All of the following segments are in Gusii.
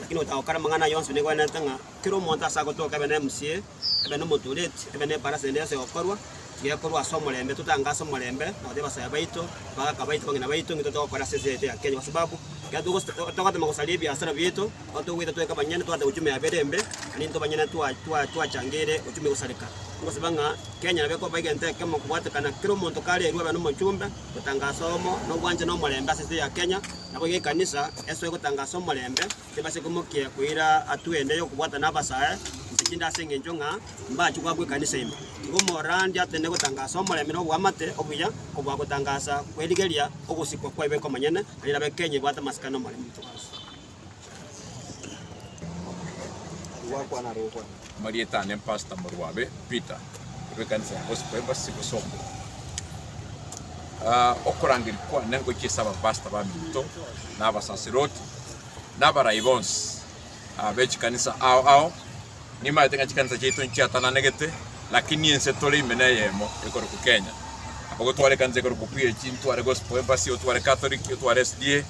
Lakini gotagokora amang'ana aya onsi negwenerete ng'a kera omonto ase agotoka ebe nemusie, ebe nomotureti, ebe neparase ende yonsi egokorwa, tigekorwa ase omorembe, totange ase omorembe, na gotebia basaya baito, bagaka baito, bang'ina baito, ng'itwe togokora ase ense eye ya Kenya, kwa sababu ekero togosa togotema gosaria ebiasara bieto, nigo togoita twaika banyene, twate uchumi yabeire embe, na nintwe banyene twa twa twachangeire uchumi gosareka. Ngosaba ng'a Kenya nabo ekoba egento ekemo kobwatekana kera omonto karerwe abe nomochumbe, gotanga ase oyomo, nobwanchani na omorembe ase ense eye ya Kenya, Nabo iga ekanisa esoe gotangaasa omorembe, tebase komokia koira atwe ende y'okobwatana abasae inse chinde ase engencho ng'a mbachie goakwa ekanisa ime. Igo omorandi atene gotangaasa omorembe na oboamate obuya kobua gotangaasa kw'erigeria ogosikwa kwaibo ekomanyene, na rilabe Kenya ebwate amasikani 'omorembe. Marieta ane Pastor Morwabe Peter bwe kanisa ya Gospel Embassy Bosongo. Ah, okorangeria kwane ngochia ase abapastor baminto na abasaseroti na abarai bonsi ah, be chikanisa ao ao nimaete ng'a chikanisa chiaito nchiatananegete lakini ense tore ime neyemo ekorokwa Kenya. Abagotwara ekanisa ekorokwa PAG ntware Gospel Embassy otware Catholic otware SDA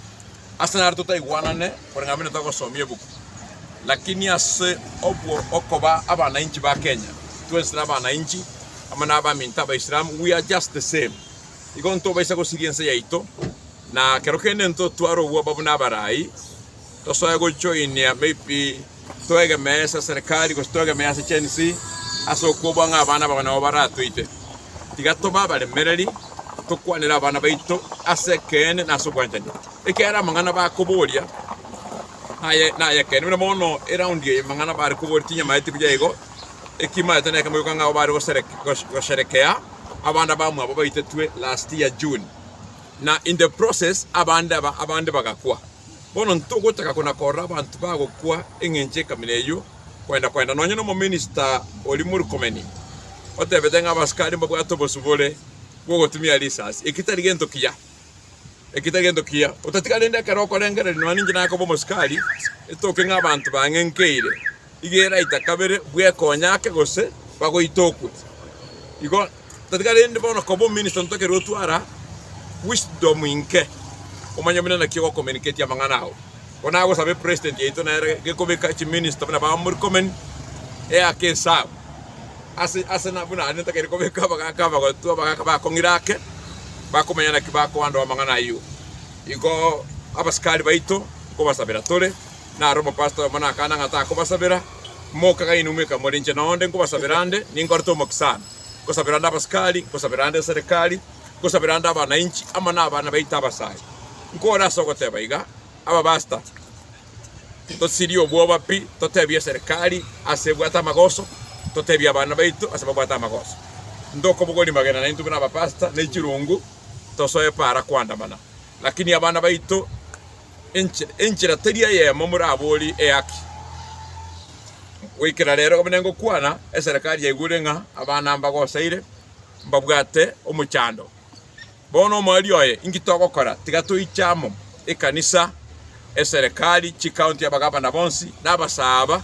Ase naro totaigwanane koreng'ana buna togosomia ebuku, lakini ase obwo okoba abanainchi ba Kenya, twensi tore abanainchi amo n'abaminto Abaisilamu, we are just the same. Igo ntobaisa gosiria ense yaito, na kero kende intotware obwoba buna abarai, tosoe gojoinia maybe. Twegemee ase serikari, gose twegemee ase chensi ase okobua ng'a abana ababo nabo baratoite. Tiga tobe abaremereri, tokwanere abana baito ase ekeene na ase obwanchani, ekiagera amang'ana bakoboria aye nay'ekeene. Buna bono eraundi eye amang'ana bare koboria tinyamaeti buya igo, ekimaete nekemo gioka ng'a abwo bare gosherekea abana bamwabo baitetwe last year June, na in the process abande aba abande bagakwa. Bono ntogotaka kona-korora abanto bagokwa engencho ekamina eyio kwenda-kwenda. Nonya nomominista oria Murkomeni otebete ng'a abasikari mbabwate obosio bore bw'ogotumia risasi. Eki tari gento kiya. Eki tari gento kiya. Otatiga rende ekero okorengereria nonya ninche nakoba omosikari, etoke ng'a abanto bang'enkeire. iga eraita kabere bw'ekonya ake gose bagoita okwe. Igo totiga rende bono koba ominista ntokerwe otwara wisdom inke omanye buna naki ogokomeniketie amang'ana ao. Ko nagosaba epresident yaito nere gekobeka chiminista buna ba Murkomen eake esao ase ase na buna aria ntakeire kobeka abagaka abagotu abagaka bakong'ira ake bakomanya naki bakoandoa amang'ana ayio. Igo abasikari baito nkobasabera tore. Naro omopastor oyomo nakana ng'a takobasabera, moka ng'a inwe mweka more inche na onde nkobasabera ande, ninkorete omoke sana. Nkosabera ande abasikari, nkosabera ande eserekari, nkosabera ande abanainchi, amo nabana baito abasae. Nkore ase ogoteba iga, abapastor, tosirie obwoba pi, totebie eserekari ase ebwate amagoso, totebie abana baito ase babwate amagoso. Ntokobogori magena naintwe buna abapastor ne chirungu tosoe para koandamana, lakini abana baito, Enchera, enchera teri eyemo moraborie eyaki. Goikera rero buna ngokwana, eserekari yaigure ng'a abana mbagosaire, mbabwate omochando. Bono omwari oye, inki togokora? Tiga toiche amo, ekanisa, eserekari, chikaunti, abagavana bonsi, na abasaaba,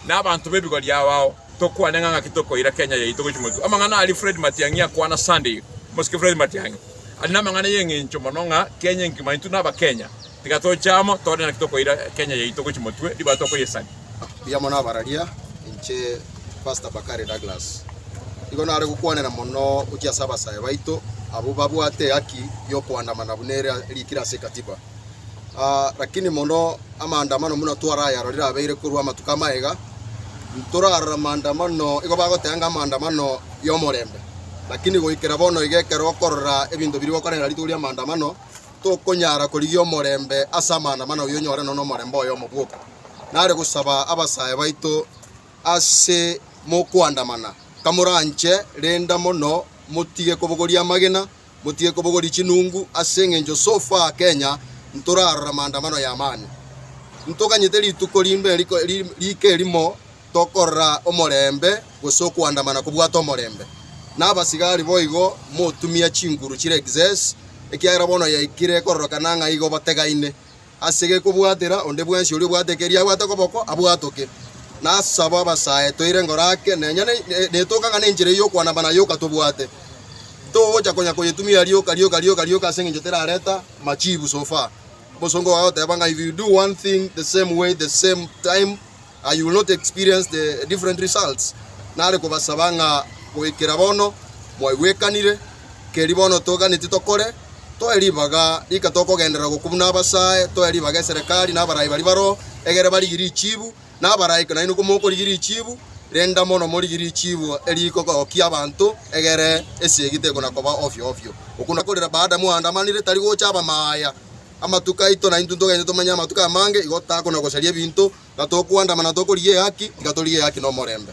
na abanto b'ebigo riao ao, Tokwane ng'a ng'aki tokoira Kenya yaito gochia motu. Amang'ana aria Fred Matiang'i akwana Sunday eye. Omosike Fred Matiang'i are namang'ana y'eng'encho mono ng'a Kenya enkima intwe naba Kenya tiga toche amo tore naki tokoira Kenya yaito gochia motwe ribaga tokoyesani. Mbuya mono abararia, inche Pastor Bakari Douglas. Nigo nare gokwanera mono gochia ase abasae baito abwo babwate ehaki y'okoandamana buna ere erikire ase Ekatiba. Lakini mono amaandamano buna twarayarorire abeire korwa amatuko amaya ntorarora amaandamano igo bagoteba ng'a amaandamano y'omorembe. Lakini goikera bono iga ekero okorora ebinto biria gokorerera rituko ria amaandamano tokonyara korigia omorembe ase amaandamano oyio onyore nonya omorembe oyomo bwoka. Nare gosaba abasae baito ase mokoandamana kamoranche renda mono motige kobogoria amagena Motige kobogoria chinungu ase engencho so far Kenya ntorarora maandamano ya amani. Ntoganyete rituko rinde rika erimo tokorora omorembe gose okoandamana kobwate omorembe. Na abasigari boigo motumia chinguru chire excess ekiagera bono yaikire kororokana ng'a igo bategaine. Ase gekobwatera onde bwensi oria obwate eke riabwate okoboko, abwatoke. Na as'abo abasae toire ngoro ake, na enyene netoke ang'ane enchera eye y'okwanama na yoka tobwate. Togocha konya koyetumia rioka rioka rioka rioka ase engencho terareta machibu so far. Omosongo ogoteeba ng'a if you do one thing the same way the same time, and you will not experience the different results. Nare kobasaba ng'a goikera bono mwaigwekanire, keri bono toiganeti tokore, toe ribaga rika tokogenderera gokwa buna abasae, toe ribaga eserekari na abarai baria baroho, egere barigie richibu, na abarai ko nainwe komokorigia richibu, renda mono morigie richibu eriko gokia abanto, egere esegi tekona koba ofio ofio. Okwo nakorire baada moandamanire, tari gocha abamaya amatuko aito, naintwe ntogenche tomanye amatuko amange, igo takona gosaria ebinto, Tiga tokwandama na tokorigia ehaki, tiga torigie ehaki na omorembe.